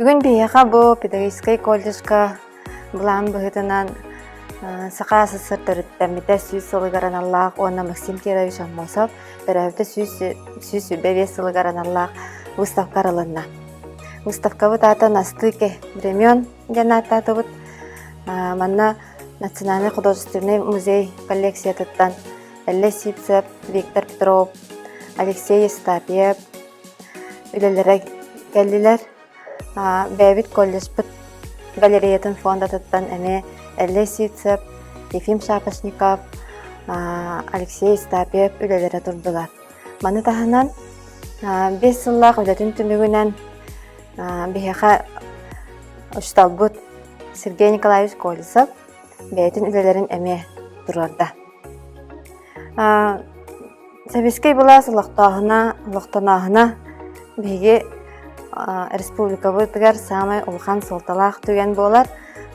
Бүгүн биһиэхэ бу педагогическай колледжка былаан быһыытынан Саха СССР сүүс сылыгар аналлаах уонна Максим Кирович Аммосов төрөөбүтэ сүүс сүбэ биэс сылыгар аналлаах выставка арылынна. Выставкабыт аатын астыы времен диэн ааттаатыбыт. Манна Национальный художественный музей коллекциятыттан Эллэ Сипцев, Виктор Петров, Алексей Естапьев үлэлэрэ кэллилэр. Бэйэбит колледжпыт галереятын фондатыттан эмиэ Эллэ Сипцев, Ефим Шапошников, Алексей Естапьев үлэлэрэ турдулар. Маны таһынан бес сыллаах үлэтин түмүгүнэн биһиэхэ учууталбыт Сергей Николаевич Колесов бэйэтин үлэлэрин эмиэ туруорда. Сэбискэй былаас олохтооһуна, олохтонооһуна биһиги республикабытыгар саамай улахан суолталаах түгэн буолар.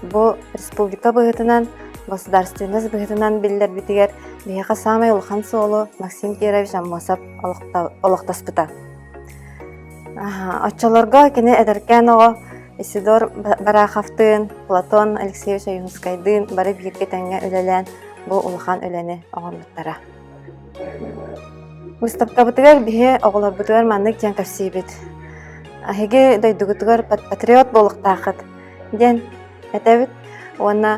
Бу республика быһыытынан, государственность быһыытынан биллэрбитигэр биһиэхэ саамай улахан суолу Максим Кирович Аммосов олохтоспута. Оччолорго кини эдэркээн оҕо Исидор Бараховтыын, Платон Алексеевич Ойуунскайдыын бары бииргэ тэҥҥэ үлэлээн бу улахан үлэни оҥорбуттара. Выставкабытыгар биһи оҕолорбутугар маннык диэн кэпсиибит. Аһиги дойдугутугар патриот буолуохтааххыт. диэн этэбит уонна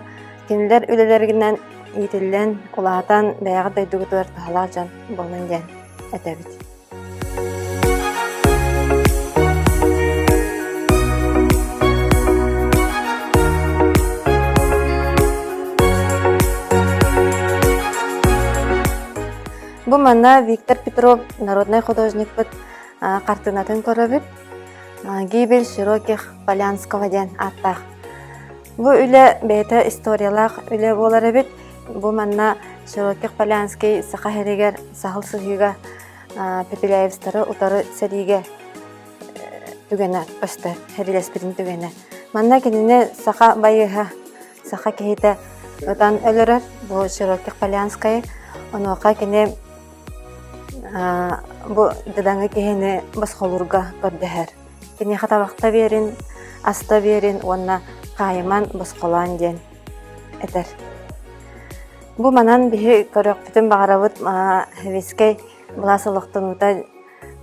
кинилэр үлэлэринэн иитиллэн улаатан бэйэҕит дойдугутугар туһалаах дьон буолуҥ диэн этэбит бу манна виктор петров народнай художникпыт хартыынатын көрөбүт Гибель широких Полянского диэн ааттаах. Бу үлэ бэйэтэ историялаах үлэ буолар эбит. Бу манна Широких Полянский Саха иһигэр саһыл сыһыыга Пепеляевстары утары сэриигэ түгэнэ көстө, хәбилэспитин түгэнэ. Манна кинини саха байыһа, саха киһитэ ытан өлөрөр. Бу Широких Полянскай. Онуоха кини Бу дьадаҥы киһини босхолуурга көрдөһөр. Киниэхэ табахта биэрин, аста биэрин уонна хаайыман босхолоон диэн этэр. Бу манан биһи көрүөхпүтүн баҕарабыт, хевискэй былаас олохтонуута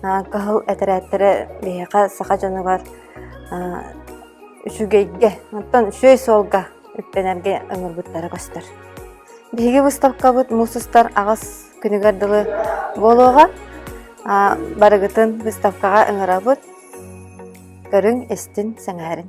Кыһыл этэрээттэрэ биһиэхэ саха дьонугар үчүгэйгэ, оттон үчүгэй суолга үктэнэргэ ыҥырбыттара көстөр. Биһиги быыстапкабыт муус устар аҕыс күнүгэр дылы буолуоҕа. Барыгытын быыстапкаҕа ыҥырабыт. Көрүҥ-истин, сэҥээрин.